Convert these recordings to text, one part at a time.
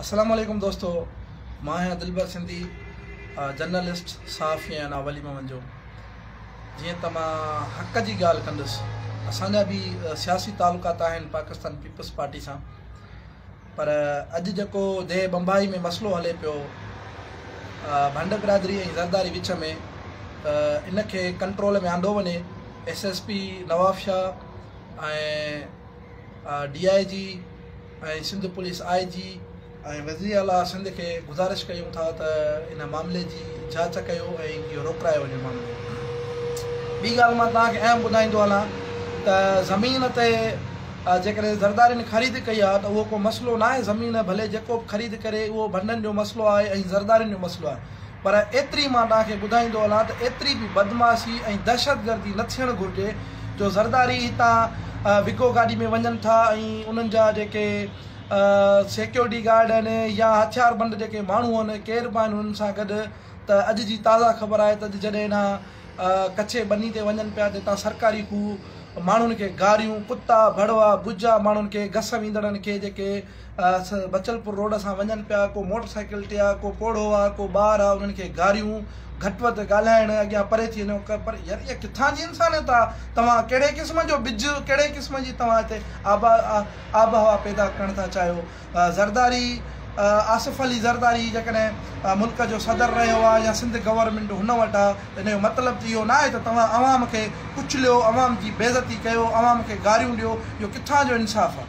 السلام عليڪم دوستو مان آهيان دلبر سنڌي جرنلسٽ صحافي ۽ انا ولي محمد جو جيئن ته مان حق جي ڳالهه ڪندس اسان جا به سياسي تعلقات آهن پاڪستان پيپلز پارٽي سان پر اڄ جيڪو دي بمبائي ۾ مسئلو هلي پيو ڀنڊ برادري ۽ زرداري وچ ۾ ته ان کي ڪنٽرول ۾ آندو وڃي S S P Nawab Shah ۽ D I G ۽ Sindh police I G ۽ وزيراعليٰ سنڌ کي گذارش ڪيون ٿا ته ان معاملي جي جاچ ڪيو ۽ اهو روڪرايو وڃي معاملو ٻي ڳالهه مان توهان کي اهم ٻڌائيندو هلان ته زمين تي جيڪڏهن زردارين خريد ڪئي آهي ته اهو ڪو مسئلو ناهي زمين ڀلي جيڪو به خريد ڪري اهو ڀنڊن جو مسئلو آهي ۽ زردارين جو مسئلو آهي پر ايتري مان تان کي ٻڌائيندو هلان ته ايتري به بدمعاشي ۽ دهشتگردي نه ٿيڻ گهرجي جو زرداري هتان وگو گاڏي ۾ وڃن ٿا ۽ انهن جا جيڪي سيڪيورٽي گارڊ آهن يا هٿيار بند جيڪي ماڻهو آهن ڪير به آهن انهن سان گڏ ته اڄ جي تازا خبر آهي ته اڄ جڏهن انها ڪڇي ٻني تي وڃن پيا ته هتان سرڪاري کوهه ماڻهن کي گاريون ڪتا ڀڙوا ٻجها ماڻهن کي گس ويندڙن کي جيڪي بچلپور روڊ سان وڃن پيا ڪو موٽر سائيڪل تي آ ڪو پوڙهو آ ڪو ٻار آ انهن کي گاريون گهٽ وڌ ڳالهائڻ اڳيان پري ٿي وڃو پر يار اها ڪٿان جي انسانيت آ توهان ڪهڙي قسم جو ٻج ڪهڙي قسم جي توهان هتي آبا آب هوا پيدا ڪرڻ ٿا چاهيو زرداري آصف علي زرداري جيڪڏهن ملڪ جو صدر رهيو آ يا سنڌ گورنمنٽ هن وٽ آ ان جو مطلب ته اهو ناهي ته توهان عوام کي ڪچليو عوام جي بيزتي ڪيو عوام کي گاريون ڏيو اهو ڪٿان جو انصاف آ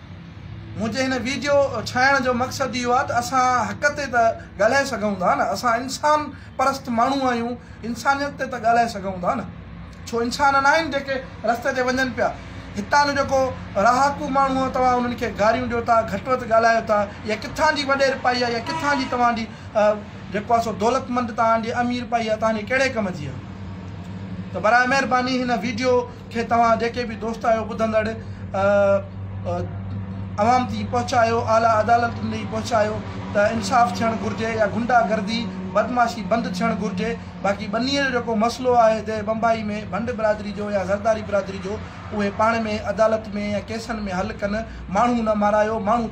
منهنجي هن ويڊيو ٺاهڻ جو مقصد اهو آهي ته اسان حق تي ته ڳالهائي سگهون ٿا نه اسان انسان پرست ماڻهو آهيون انسانيت تي ته ڳالهائي سگهون ٿا نه ڇو انسان ناهن جيڪي رستي تي وڃن پيا هتان جو جيڪو رهاڪو ماڻهو آهي توهان انهن کي گاريون ڏيو ٿا گهٽ وڌ ڳالهايو ٿا اها ڪٿان جي وڏيرپائي آهي اها ڪٿان جي توهان جي جيڪو آهي سو دولتمند توهان جي اميرپائي آهي توهان جي ڪهڙي ڪم جي آهي ته برائي مهرباني هن ويڊيو کي توهان جيڪي به دوست آهيو ٻڌندڙ عوام تي پهچايو اعليٰ عدالتن ڏي پهچايو ته انصاف ٿيڻ گهرجي يا غنڊا گردي بدمعاشي بند ٿيڻ گهرجي باقي ٻنيء جو جيڪو مسئلو آهي هتي بمبائي ۾ ڀنڊ برادري جو يا زرداري برادري جو اهي پاڻ ۾ عدالت ۾ يا ڪيسن ۾ حل ڪن ماڻهو نه مارايو ماڻهو